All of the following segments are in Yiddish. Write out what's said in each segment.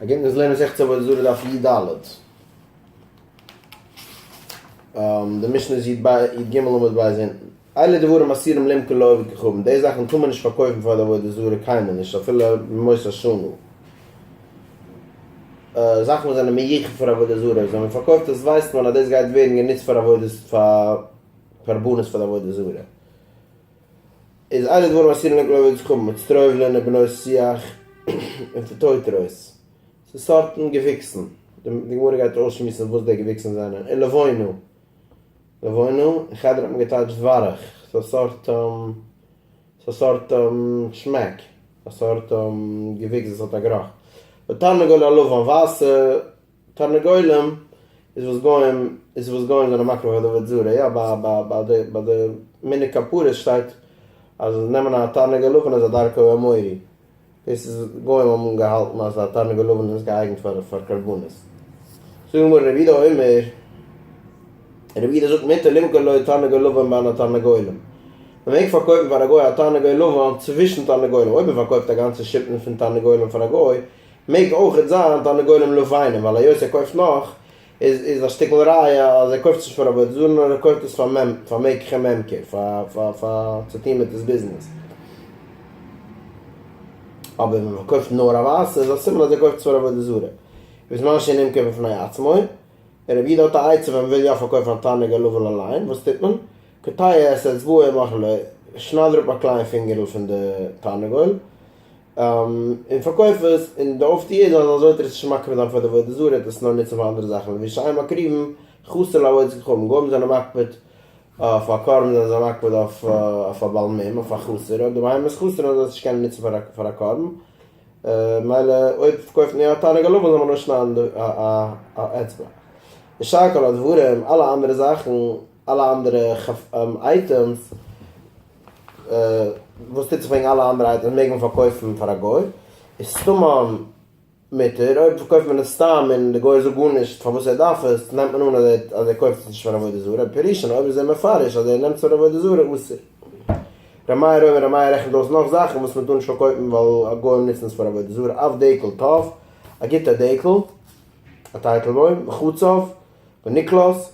אגענט מוז לערנען זעכצן עבודה זרה דף י ד. די משנה איז יט ב יט ג עמוד ב' אונטן. אלה דברים אסירים למכור לאויב וכוכבים, די זאכן טאר מען נישט פארקויפן פאר די עבודה זרה קיינמאל נישט אפילו במות השנה. זאכן וואס זענען מיוחד פאר עבודה זרה אויב זאל מען פארקויפט עס ווייסט מען אז דאס גייט ווערן גענוצט פאר עבודה פאר קרבנות פאר די עבודה זרה. איז איינער געווארן אסיר אין עגלאווע יצחק מיט סטרויבלען און בנות שיח און פאטויטרויס? ס'איז סארטן געוויקסן, די גמרא גייט אויסשמועסן וואס די געוויקסן זענען, און לבונה, לבונה, אין חדר האט מען געטייטשט ווארעך, ס'איז א סארט ס'איז א סארט שמעק, א סארט געוויקס וואס האט א גערוך, ותרנגול הלבן ווייסע. תרנגולים איז וואס גוים איז וואס גוים זענען מקריב אויף די עבודה זרה, יא ביי די מנהג כפרות שטייט אז נעמען א תרנגול לבן איז א דרכו האמורי, דאס איז גוים האבן געהאלטן אז א תרנגול לבן איז געאייגנט פאר קרבנות. זאגט די גמרא רבי יהודה אומר, רבי יהודה זאגט מותר למכור לו תרנגול לבן בין התרנגולים, מען מעג פארקויפן פאר א גוי א תרנגול לבן צווישן תרנגולים, אויב מען פארקויפט א גאנצע שפן פון תרנגולים פאר א גוי מעג אויכעט זיין תרנגולים לא פיינעם ווייל היות ער קויפט נאך איז איז א שטיקל ראיה אז ער קויפט עס נישט פאר עבודה זרה נאר ער קויפט עס פאר מ פאר מ כ מ כ פאר פאר צו טוהן מיט עס ביזנעס אבער ווען מען קויפט נאר א ווייסע איז א סימן אז ער קויפט עס פאר עבודה זרה וואס מה שאין נמכר בפני עצמו רבי איד האט א עצה ווען מען וויל יא פארקויפן א תרנג הלול אליין וואס טוט מען? קטע את אצבעו מאכעלע שנייד אראפ א קליין פינגערל פון די תרנגול. און פארקויף עס, און די אויפטוה איז אז אזוי טאר עס נישט מקריב זיין פאר די עבודה זרה, טארסט עס נאר נוצן פאר אנדערע זאכן, ווי שייע מקריבים חסר לעבודת כוכבים, גוים זענען מקפיד אויף א קרבן זענען זיי מקפיד אויף א בעל מום, אויף א חסר, אויב די בהמה איז חסר וועלן זיי עס נישט קענען נוצן פאר א קרבן, מילא אויב פארקויפט מען יא א תענוג הלבן זאל מען אויסשניידן א אצבע, און שאר כל הדברים אלע אנדערע זאכן אלע אנדערע אייטעמס. וואס טוט זיך וועגן אלע אנדערע אייטעמס מעג מען פארקויפן פאר א גוי איז סתם אן מותר אויב פארקויפט מען עס סתם און די גוי זאגט גארנישט פארוואס ער דארף עס נעמט מען אן אז ער קויפט עס נישט פאר עבודה זרה פירוש'ן אויב איז ער מפרש אז ער נעמט עס פאר עבודה זרה אסור ר' מאיר אויב ר' מאיר רעכנט אויס נאך זאכן וואס מען טאר נישט פארקויפן ווייל גוים נוצן עס פאר עבודה זרה אויף דעקל טוב א גוטע דעקל א טייטלבוים מחוצף ונקלס.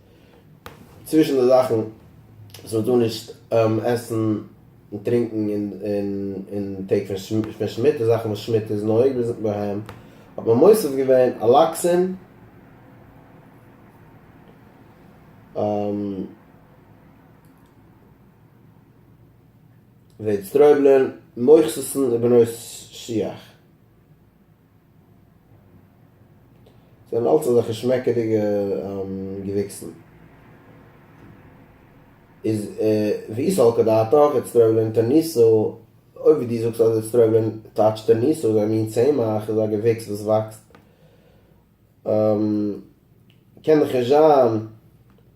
צווישן די זאכן וואס מען טאר נישט עסן און טרינקן אין טעג פון שמיט, די זאכן וואס שמיט איז נוהג בהם, האט מען מוסיף געווען אלאקסין, וועד סטרויבלען, מוכסוס'ן ובנות שיח. זענען אלץ אזעלכע שמעקעדיגע געוויקסן. איז ויסעל כדעתך איטס טרעוולען טו ניסא, אויב ווי דו זאגסט אז איטס טרעוולען טאטש טו ניסא איז א מין צמח, איז א געוויקס וואס וואקסט קען דאך נישט זיין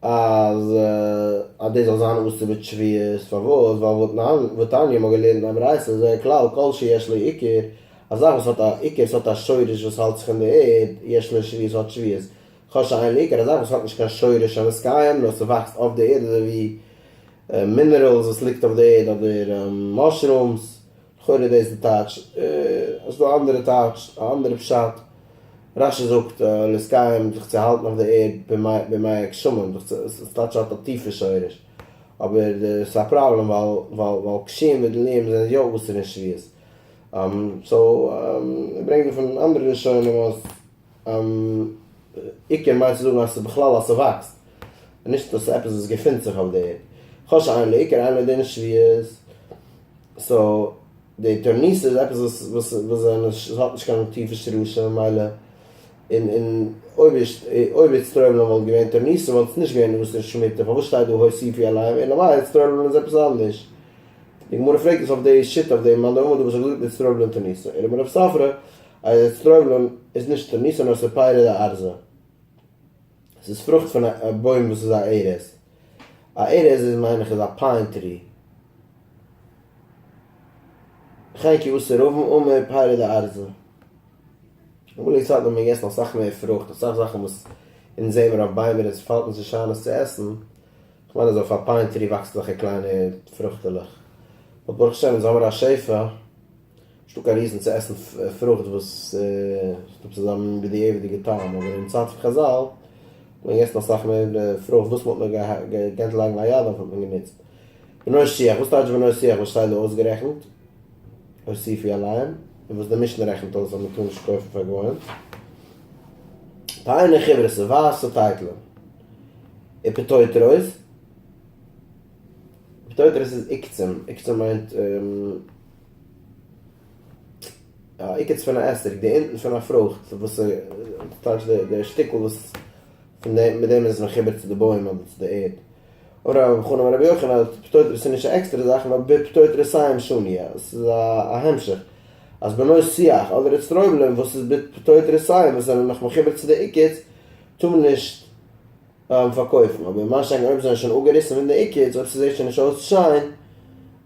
אז אז דאס זאל זיין אסור בצביעות, פארוואס? ווייל ותניא מ'האט געלערנט אין א ברייתא אז זה כלל כל שיש לו עיקר, א זאך וואס האט א עיקר וואס האט א שורש וואס האלט זיך אין די ערד, יש לו שביעות האט שביעות, כל שאין לו עיקר א זאך וואס האט נישט קיין שורש המות קיים נאר ס'וואקסט אויף די ערד אזוי ווי מינערעלס וואס ליגט אויף די ערד אדער מאשרומס, לכאורה איז דאס די טייטש. עס איז דא אנדערע טייטש, א אנדערע פשט. רשי זאגט לסקיים זיך צו האלטן אויף די ערד בימי הגשמים, דאס טייטש האט א טיפע שורש, אבער עס איז א פראבלעם ווייל קשים וגלויים זענען יא אסור אין שביעות, סאו ער ברענגט דערפון אנדערע לשונות אז עיקר מיינט צו זאגן אז עס איז בכלל אז עס וואקסט, און נישט אז עס איז עפעס וואס געפינט זיך אויף די ערד. כל שאין לעיקר אין לו דין שביעות. סאו די אטוירניס איז עפעס וואס וואס וואס זענען נישט האט נישט קיין טיפע שרשים ממילא און און אויב אויב איצטראעבלען וואלט געווען אטוירניסן וואלט עס נישט געווען אסור שמיטה פארוואס שטייט דא הוסיפי עליהם אלא מאי איצטראעבלען איז עפעס אנדערש די גמרא פרעגט אונז אויף די שיטה אויף די מאן דאמר דא וואס האט געזאגט איצטראעבלען אטוירניסן ערעב און רב ספרא אז איצטראעבלען איז נישט אטוירניסן נאר ס'איז פירות די ארזה ס'איז פרוכט פון א בוים וואס איז א ערז. א ארז איז מיין איך איז א פיין טרי. חי כי אסור רובם אמר פירה לארזה. אמאל אין סאטמאר האט מען געגעסן אסאך מער פרוכט, אסאך זאכן וואס אונז זעמער אויף ביימער אונז פאלט נישט נישט איין עס צו עסן, כ'מיין אז אויף א פיין טרי וואקסט אזעלכע קליינע פרוכטעלעך, באט ברוך השם אונז האמער א שפע. נישטא קיין ריזן צו עסן פרוכט וואס האט עפעס אזא בדיעבד'יגע טעם, אבער אין צייט פון חזל האט מען געגעסן אסאך מער פרוכט, וואס מען האט נאר געקענט לייגן א יד אויף האט מען גענוצט. בנוי שיח, וואס טייטש בנוי שיח וואס שטייט דא אויסגערעכנט? הוסיפי אליין, און וואס די משנה רעכנט אויס אז מען טאר נישט קויפן פאר גוים? פיינע חברה ס'איז ווייסע טייטלען און פטויטרויס, פטויטרויס איז עוקצים, עוקצים מיינט. עיקץ פון א עסק, די אונטן פון א פרוכט, וואס איז טייטש די שטיקל וואס פון דעם מיט דעם איז מחובר צו די בוים אדער צו די ערד. אמר רבא בר חנא אמר רבי יוחנן אז פטור תרסי איז נישט א עקסטערע זאך נאר פטור תרסי עם שוניא, עס איז א המשך אז בנוי שיח אדער אצטרויבלען וואס איז פטור תרסי עם וואס זענען נאך מחובר צו די עיקץ טאר מען נישט פארקויפן, אבער מה שאין כן אויב זיי זענען שוין אפגעריסן פון די עיקץ אויב ס'זעט שוין נישט אויס שיין,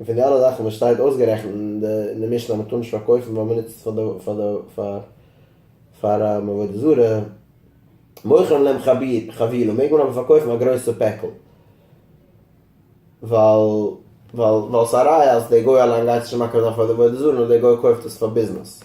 און פון די אלע זאכן וואס שטייט אויסגערעכנט אין די אין די משנה אז מ'טאר נישט פארקויפן ווייל מ'נוצט עס פאר די פאר די פאר פאר עבודה זרה, מוכרים להם חביר חבילה מעג מען אבער פארקויפן א גרויסע פעקל ווייל ווייל ווייל ס'איז א ראיה אז דער גוי אליין גייט נישט און מקריב זיין פאר די עבודה זרה נאר דער גוי קויפט עס פאר ביזנעס.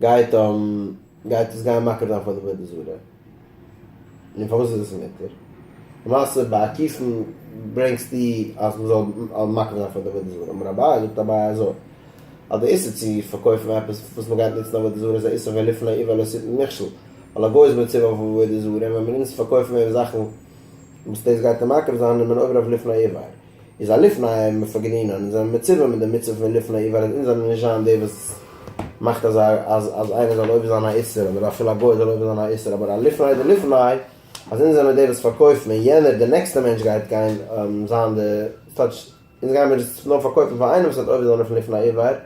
גייט גייט עס גיין מקריב זיין פאר די עבודה זרה? נו פארוואס איז עס מותר? למעשה בעקיפין ברענגסטו אז מען זאל מקריב זיין פאר די עבודה זרה, אמר אביי זאגט אביי אזוי אז די איסור צו פארקויפן עפעס וואס מען גייט נוצן עבודה זרה איז א איסור ולפני עיוור לא שטן מכשול, ווייל א גוי איז מצווה אויף עבודה זרה און ווען מען נוצט פארקויפן אים זאכן וואס דאס גייט אים מקריב זיין איז מען עובר אויף לפני עיוור, איז א לפני א מפגרין און אונז זעמיר מצווה מיט די מצוה פון לפני א ווייל אז אונז זעמיר נישט זיין די וואס מאכט אז אז איינער זאל עובר זיין א איסור אדער אפילו א גוי זאל עובר זיין א איסור אבער א לפני די לפני אז אונז זעמיר די וואס פארקויפן און יענער די נעקסטע מענטש גייט גיין זיין די סטייטש אונז גיימיר עס נאר פארקויפן פאר איינעם וואס וועט עובר זיין אויף לפני א ווייל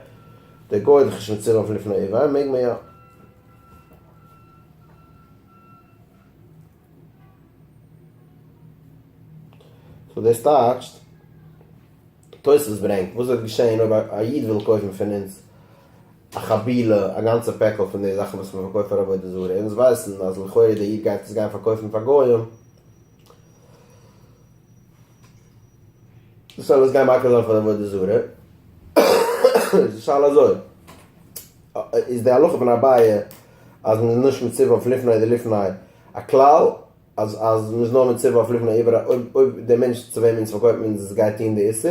די גוי איז דאך נישט מצווה אויף לפני א ווייל מעג מען יא. סאו דאס טייטשט, תוס' ברענגט, וואס וועט געשעהן אויב א איד וויל קויפן פון אונז א חבילה, א גאנצע פעקל פון די זאכן וואס מ'פארקויפט פאר עבודה זרה, אונז ווייסן אז לכאורה דער איד גייט עס גיין פארקויפן פאר גוים, דאס אלעס גיין מקל זיין פון עבודה זרה, איז די שאלה אזוי, איז די הלכה פון אביי אז מען איז נישט מציב אויף לפני אדער לפני א כלל, אז מען איז נאר מציב אויף לפני אויב אויב די מענטש צו וועמען מען פארקויפט מען עס גייט טון די איסור,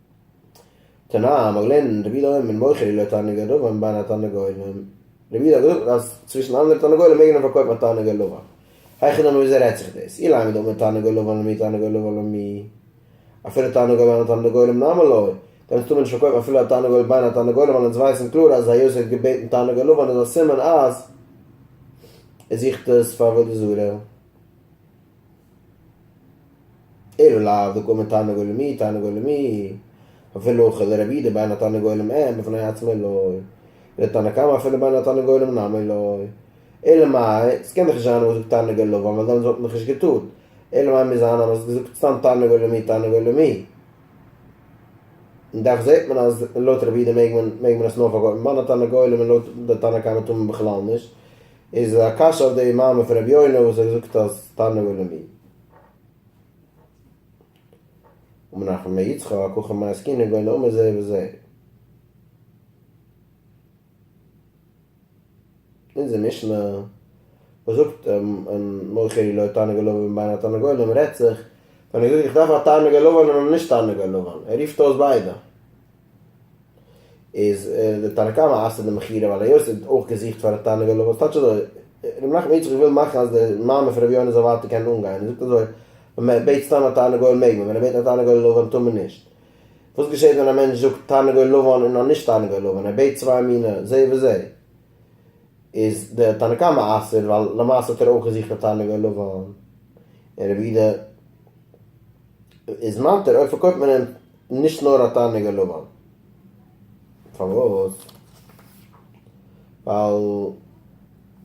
תנא, מ'האט געלערנט רבי יודא אויבן מוכר אילו תענוגי לבן בין התרנגולים, רבי יודא האט געזאגט אז צווישן אנדערע תרנגולים מעג מען פארקויפן א תענוגי לבן, היכי דמי וויאזוי רעדט זיך דאס, אילן עמד אמר תענוגי לבן למי תענוגי לבן למי, אפילו תענוגי בין התרנגולים נאמר לוי, דעמאלטס טאר מען נישט פארקויפן אפילו א תענוגי בין התרנגולים ווייל אונז ווייסן קלאר אז היות ער האט געבעטן תענוגי לבן איז א סימן אז ער זוכט עס פאר עבודה זרה. ער איז לאו דוקא מתענוג עולמי תענוג עולמי, אפילו כ ל רבי ד בין התענוג עולם אין בפני עצמו לא, די תנא קמא אפילו בין התענוג עולם נמי לא, אלא מאי, ס'קען דאך נישט זיין אז מ'האט געזאגט תענוג עלבון ווייל דאנס וואלט מען דאך נישט געטון, אלא מאי מוז זיין אז מ'האט געזאגט סתם תענוג עולמי תענוג עולמי, און דאך זעט מען אז לויט רבי ד מעג מען עס נאר פארקויפן בין התענוג עולם און לויט די תנא קמא טאר מען בכלל נישט, איז א קשיא אויף די מאמר פון רבי יונה וואס ער האט געזאגט אז תענוג הוא למין. ומנחם בן יצחק הכא מאי עסקינן גוי נאמן זה בזה. אונזער משנה וואס זאגט און מוכר היא לו תענוג הלבן ובין התרנגולים רעדט זיך ווען ער זאגט איך דארף א תענוג הלבן און א נישט תענוג הלבן, ער רופט אויס ביידע. איז די תנא קמא אסר די מכירה ווייל היות ער האט אויך געזוכט פאר א תענוג אליו אז טייטש אזוי ר' נחמן איטשע איך וויל מאכן אז די מעמד פון ר' יונה זאל ווייטער קענען אנגיין און זאגט אזוי ווען מען בעט סתם א תענוג אליו מעג מען ווען ער בעט א תענוג אליו ווען טאר מען נישט וואס געשעט ווען א מענטש זאגט תענוג אליו אן און אן נישט תענוג אליו ווען ער בעט צוויי מיני זה וזה איז די תנא קמא אסר ווייל למעשה האט ער אויך געזוכט א תענוג אליו אן און ר' יהודה איז מתיר אויב פארקויפט מען אים נישט נאר א תענוג אין לבן. פארוואס? ווייל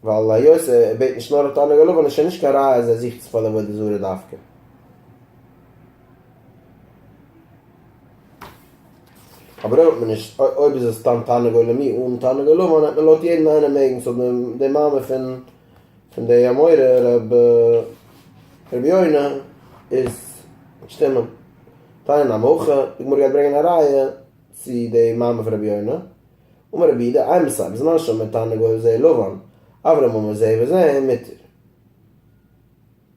ווייל היות ער בעט נישט נאר א תענוג אין לבן איז שוין נישט קיין ראיה אז ער זוכט עס פאר די עבודה זרה דווקא. אבער אויב האט מען נישט, אויב איז עס סתם תענוג עולמי אן תענוג אין לבן, העט מען לויט יעדן איינעם מעגן ס'זאל דעם מעמד פון. פון די אמורא רבי רבי יונה איז שטימען דיין א מח א, די גמרא גייט ברענגען א ראיה צו די מאמר פון רבי יונה, אמר רבי יהודה איי מסייב בזמן שאמר תענוג אוהב זה לבן אברהם אמר זה וזה מותר.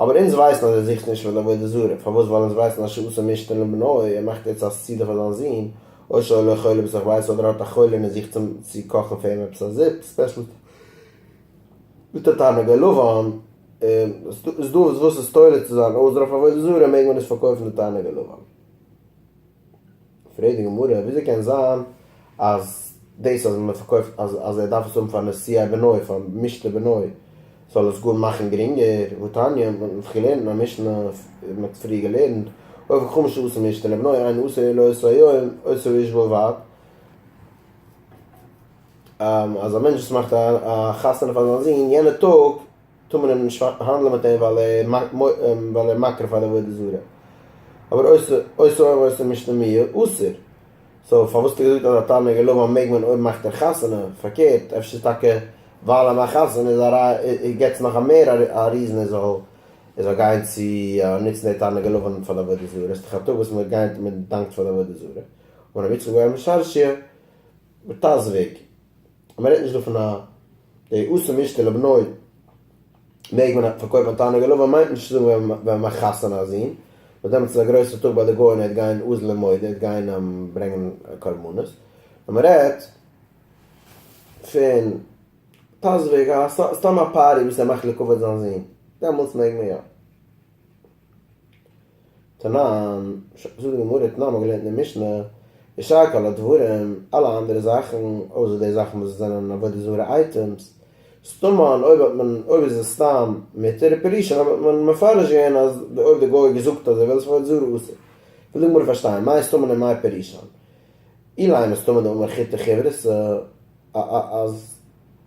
אבער אונז ווייסן אז ער זוכט נישט פאר די עבודה זרה, פארוואס ווייל אונז ווייסן אז שעשה משתן לבנו, ער מאכט יעצט א סעודה פאר זיין זון, אוי שאוי לו חולה בתוך בית, אדער האט א חולה און ער זוכט אים צו קאכן פאר אים עפעס א זופ ספעשל מיט א תענוג הלבן, איז דא וואס איז תולה צו זיין עוזר אויף עבודה זרה מעג מען עס פארקויפן די תענוג הלבן. פרעגט די גמרא, וויאזוי קען זיין אז דאס אז מען פארקויפט אז אז ער דארף עס האבן פאר נסיעה בנוי פאר משתה בנוי זאל עס גאר מאכן גרינגער, ותניא, מען האט דאך געלערנט אין א משנה, מען האט פריער געלערנט, אויב איז חמשה אסור משתה לבנוי אינו אסור אלא עשרה יום, אסור איש בלבד, אז א מענטש וואס מאכט א חתונה פאר זיין זון יענע טאג, טאר מען אים נישט האנדלען מיט אים ווייל ער מקריב פאר די עבודה זרה, אבער עושה אוהב ועושה משתמע אסור, סאו פארוואס האט ער געזאגט אז א תענוג אין לבו מעג מען אויב מאכט ער חתונה, פארקערט אפשר איז טאקע ווייל ער מאכט חתונה איז א גט נאך מער א ריזען ער זאל ער זאל גיין צו נוצן די תענוג אין לבו פאר די עבודה זרה, עס איז דאך א טאג וואס מען גייט מען דאנקט פאר די עבודה זרה, און רבי יצחק ווייל משרשיא, וטז וג. אז מען רעדט נישט דא פון א די עושה משתה לבנו מעג מען פארקויפן א תענוג עלוב מיינט נישט צו זאגן ווען ווען מען מחתן א זון וואס דעמאלטס איז א גרויסע טאג ביי די גוים ער וועט גיין עוז ל מויד ער וועט גיין ברענגן קרבנות נאר מען רעדט פון פאזשוויג א סתם א פארטי וואס ער מאכט לכבוד זיין זון דעמאלטס מעג מען יא. תנן, זאגט די גמרא, תנן האט געלערנט אין משנה, ישר כל הדברים, אלע אנדערע זאכן, אויסער די זאכן וואס זענען עבודה זרה אייטעמס, סתמא, אויב האט מען, אויב איז עס סתם מותר, פירוש'ן אויב האט מען מפרש געווען אז אויב די גוי האט געזאגט אז ער וויל עס עבודה זרה אסור. וויל די גמרא פארשטיין, מאי סתמא און מאי פירוש'ן. אילאי מסתמא דאמר חיטא כיוורסא, אז.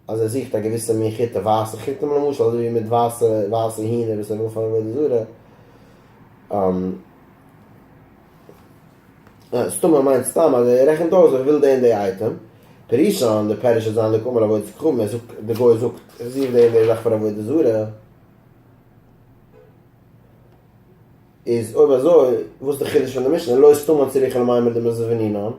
אז ער זוכט א געוויסע מין כיתה, ווייסע כיתים למשל, אזוי ווי מיט ווייסע ווייסע הינער וואס ער וויל פאר עבודה זרה. סתם ער מיינט סתם אז ער רעכנט אויס איך וויל די און די אייטעם, פרישאן, די פירוש איז זיין לקומה לעבודת כוכבים, ער זאגט, די גוי זאגט, איך זוך די און די זאך פאר עבודה זרה. איז אויב אזוי וואס די חידוש פון די משנה לא יסתמא צריכא למאי מיט די מזוונינן?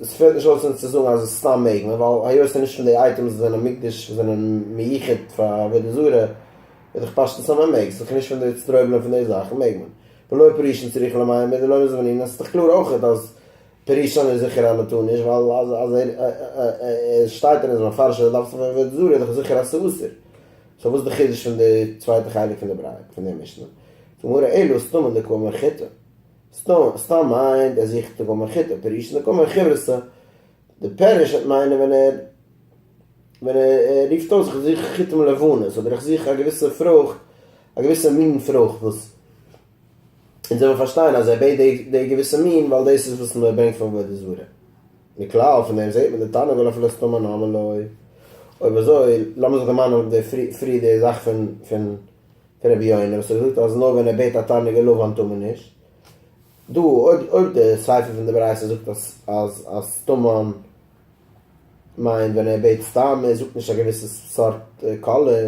עס פעלט נישט אויס אונז צו זאגן אז סתם מעג מען ווייל היות ס'איז נישט פון די אייטעמס וואס זענען מוקדש וואס זענען מיוחד פאר עבודה זרה איז דאך פשטות אז מען מעג, ס'איז דאך נישט פון די איצטרויבלען פון די זאכן מעג מען. ולא פרישין צריכא למאי מיט די לא מזוונינן עס איז דאך קלאר אויכעט אז פרישין איז זיכער אז מען טאר נישט ווייל אז עס שטייט און עס איז מפרש אז ער דארף עס פאר עבודה זרה איז דאך זיכער אז ס'איז אסור סאו וואס איז די חידוש פון די צווייטע חלק פון די ברייער פון די משנה? פון מרא אילו סתום אין די קוה מרחיתא? סתום סתם מיינט ער זוכט די קוה מרחיתא פירוש אין די קוה מרחיבתא, די פירוש וועט מיינען ווען ער ווען ער רופט אויס איך זוך כתם לבנות אדער איך זוך א געוויסע פרוכט א געוויסע מין פרוכט וואס אונז זעמיר פארשטיין אז ער בעט די געוויסע מין ווייל דאס איז וואס מען ברענגט פון עבודה זרה. מכלל, פון דעם זעט מען די תנא ולא פלסט טעמא נאמר לוי. אויב אזוי, לאמיר זיך דערמאנען אויף די פריער די זאך פון פון פון רבי יונה וואס ער האט געזאגט אז נאר ווען ער בעט א תענוג און לבן טאר מען נישט. דא אויב אויב די סיפא פון די ברייתא זאגט אז אז אז טעמא'ן מיינט ווען ער בעט סתם, ער זאגט נישט א געוויסע סארט קאלער,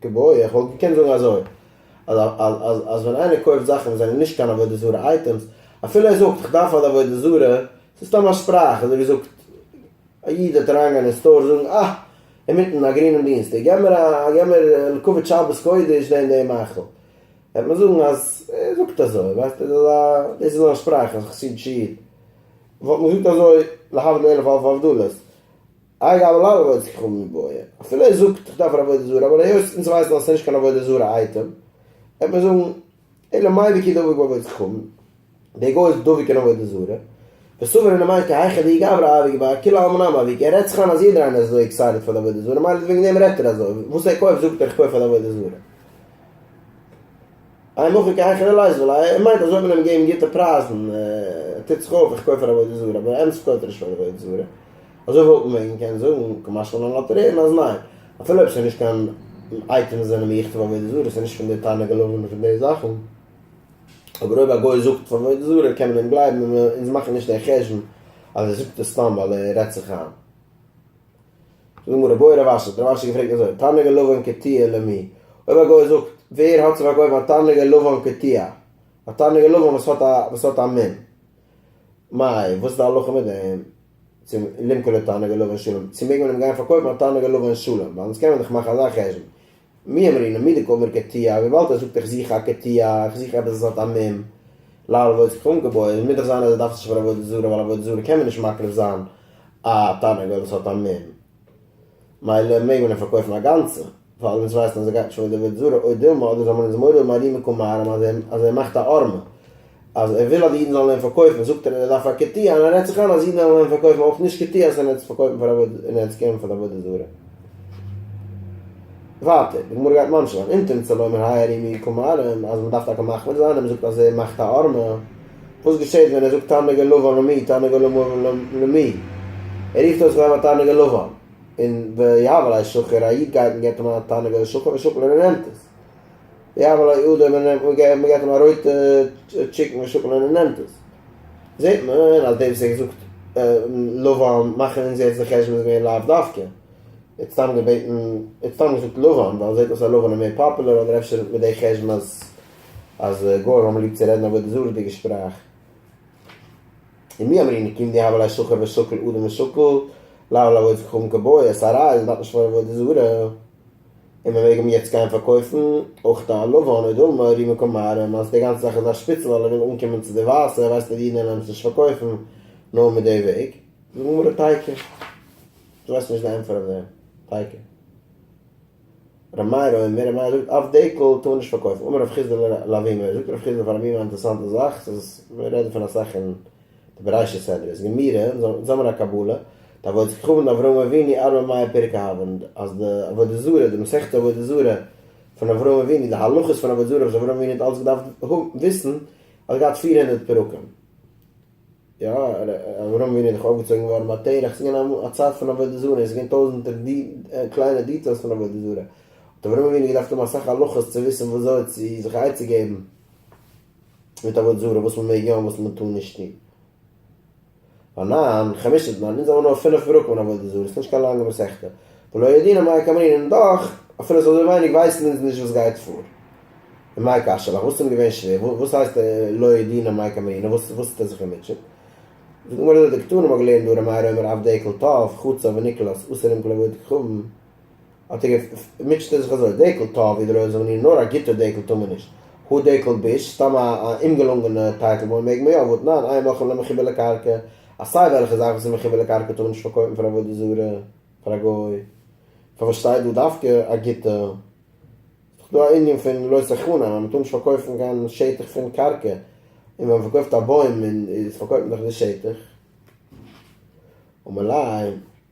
כבוד, איך וואלט געקענט זאגן אזוי, אז ווען איינער קויפט זאכן וואס זענען נישט קיין עבודה זרה אייטעמס, אפילו ער זאגט איך דארף פאר די עבודה זרה, ס'איז סתם א שפראך, אזוי ווי זאגט א איד וועט אריינגיין אין סטאר זאגן אה, אינמיטן א גרינעם דינסטאג, געב מיר א, געב מיר לכבוד שבת קודש דעם דעם מאכל, וועט מען זאגן אז ער זאגט אזוי, ווייסט איר, דאס איז זיין שפראך, אז חסידישע איד, וואלט מען געזאגט אזוי להבדיל אלף אלפי הבדלות. אגב אלל אבוידעס ככלן מיט בויען, אפילו ער זאגט איך דארף אן עבודה זרה אבער היות אונז ווייסן אז עס איז נישט קיין עבודה זרה אייטעם וועט מען זאגן אלא מאי וכי דבוק בעבודת ככלן, דער גוי איז דבוק אין עבודה זרה, וסובר אין מאי כי היכא דאי גברא אביג בה כולי עלמא נמי אביג, ער רעדט זיך איין אז יעדער איינער איז אזוי עקסייטעד פאר די עבודה זרה מילא וועגן דעם רעדט ער אזוי, וואס ער קויפט זאגט ער איך קויף פאר די עבודה זרה. איי מאך איך קיין חילול ה' ווייל ער מיינט אז אויב מען נעמט געבן גוטע פרייזן טוט זיך אויף איך קויף פאר עבודה זרה אבער ענדערש קויפט ער נישט פאר עבודה זרה אזוי וואלט מען וועגן קענען זאגן כמשל אן לאטעריען אז ניין אפילו אויב ס'איז נישט קיין אייטעם וואס זענען מיוחד פאר עבודה זרה ס'איז נישט פון די תענוגי לולב און פון די זאכן אבער אויב א גוי זאגט פאר עבודה זרה קען מען אים גלייבן און אונז מאכן נישט די חשבון אז ער זאגט עס סתם ווייל ער רעדט זיך איין. זאג מיר רבוי רב אשר, דער רב אשר האט געפרעגט אזוי, תרנגל לבן קטיעה למי? אויב א גוי זאגט, ווער האט צו פארקויפן א תרנגל לבן קטיעה, א תרנגל לבן וואס האט א וואס האט א מ מ, וואס איז די הלכה מיט דעם? צו למכור לו תרנגל לבן שלם, צו מעג מען אים גיין פארקויפן א תרנגל לבן שלם, ווייל אונז קען מען דאך מאכן אזא חשבון, מי אמר אינעם מילה גומר כתיב, וויבאלד ער זאגט איך זוך א כתיב, איך זוך עפעס וואס האט א מ ל על עבודת כ ק געבויעט, מוז דאך זיין אז ער דארף עס נישט פאר עבודה זרה, ווייל עבודה זרה קען מען נישט מקריב זיין א תרנגול וואס האט א מ ל, מילא מעג מען אים פארקויפן א גאנצע, ווייל אונז ווייסן אז ער גייט נישט פאר די עבודה זרה, אוי דילמא, אדער זאל מען אונז מורא מארימע קומארעם אז ער מאכט א ארמע. אז ער וויל אז די אידן זאלן אים פארקויפן זאגט ער אז ער דארף א כתי און ער רעדט זיך איין אז אידן וועלן אים פארקויפן אויך נישט כתי אז ער נעמט עס פארקויפן פאר עבודה און ער נעמט עס קערן פאר די עבודה זרה. ווייטער די גמרא גייט ממשיך זיין אם תמצא לומר האי ערים מיעוט כמרים אז מען דארף טאקע מחמיר זיין און מען זאגט אז ער מאכט א ארמע וואס געשעט ווען ער זאגט תענוג הלבן למי תענוג הלבן למי ער רופט אויס איך האב א תענוג הלבן און ויהב אלי שחור א איד גייט און געבט אים א תענוג הלשחור ושוקל און ער נעמט עס יבא לא יעודה מען נעמט מען געט אים א רויטע טשיקן און שאפעלע און ער נעמט עס זעט מען אז דער וואס האט געזאגט לבן מאכן אונז יעצט די חשבון איז מער לאו דווקא ער האט סתם געבעטן ער האט סתם געזאגט לבן ווייל זעט אויס אז לבן איז מער פאפולער אדער אפשר מיט די חשבון אז אז גוים האבן ליב צו רעדן עבודה זרה'דיגע שפראך ומי אמרינן כי אם די הבל השחור ושקל אדם ושקל לאו לאו עוץ כחום כבוי עס א ראיה אז מען דארף נישט פארן עבודה זרה. און מען מעג אים יעצט גיין פארקויפן, אויך די עלובה און אוי דילמה רימי קאמארעם אז די גאנצע זאך איז א שפיצל ווייל ער וויל אנקומען צו די ווייסע, ווייסט אז די אידן וועלן עפעס נישט פארקויפן נאר מיט די וועג. זאג מר א טייקע, דו ווייסט נישט די ענטפער אויף דעם, טייקע. ר' מאיר אומר, ר' מאיר זאגט אויף דעקל טאר מען נישט פארקויפן, אמר ר' חיסדא לאבימער, זאגט ר' חיסדא פאר אבימער א אינטערעסאנטע זאך, ס'איז, מיר רעדן פון אסאך אין. די בראשית סדר איז גמרא, זמר הקבלה, די עבודת כוכבים די אברהם אבינו ארבע מאה פרק אהבן, אז די עבודה זרה, די מסכת עבודה זרה פון אברהם אבינו, די הלכות פון עבודה זרה וואס אברהם אבינו האט אלץ געדארפט וויסן, האט געהאט פֿיר הונדערט פרקים. יא, אברהם אבינו איז דאך אויפגעצויגן געווארן ביי תרח, ס'איז געווען א צייט פון עבודה זרה, און ס'איז געווען טויזנטער קליינע דיטעילס פון עבודה זרה, האט אברהם אבינו געדארפט האבן אסאך הלכות צו וויסן וואזוי צו זיך עצה געבן, מיט עבודה זרה וואס מען מעג יא און וואס מען טאר נישט טון. רנן, חמשה זמן, אונז האבן נאר פינף פרקים אין עבודה זרה, עס איז נישט קיין לאנגע מסכתא, ולא ידעינן מאי קאמרינן, און דאך, אפילו עס איז אזוי ווייניג, ווייסן אונז נישט וואס גייט פאר. און מאי קשה לך, וואס איז אים געווען שווער, וואס הייסט לא ידעינן מאי קאמרינן, וואס טוט ער זיך געמוטשעט? זאגט די גמרא דא, די קטנים האט געלערנט דא ר' מאיר אומר אב דעקל טוב, חצה ונקלס, אסור אים כלעבוד ככבן, האט ער גע מוטשעט ער זיך אזוי, דעקל טא ווי די רויער זאגן איר, נאר א גוטער דעקל טאר מען נישט, הא דעקל ביש, סתם א א אומגעלונגענע טייטל וואוין מעג מען יא, וואט ניין, עיין מכון למחובר לקרקע, אז סיי וועלכע זאך וואס איז מחובר לקרקע טאר מען נישט פארקויפן פאר עבודה זרה, פאר א גוי, פארוואס שטייט דא דווקא א גוטע? ס'איז דאך דא א ענין פון לא תחנם, אז מען טאר נישט פארקויפן קיין שטח פון קרקע, און ווען מען פארקויפט א בוים און איז פארקויפט מען דאך די שטח, ומילא.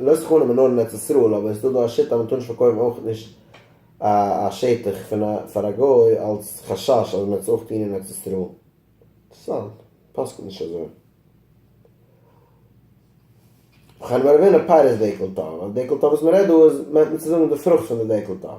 לא סכנה מנור אין ארץ ישראל אבער עס איז דא דא א שיטה אז מען טאר נישט פארקויפן אויך נישט א שטח פון א פאר א גוי אלץ חשש אז מען וועט עס אויך טון אין ארץ ישראל. אינטערסאנט. פסק'נט נישט אזוי. וכן מרבין א פירות דעקל טוב, א דעקל טוב וואס מען רעדט דא איז מיינט מען צו זאגן די פרוכט פון די דעקל טוב.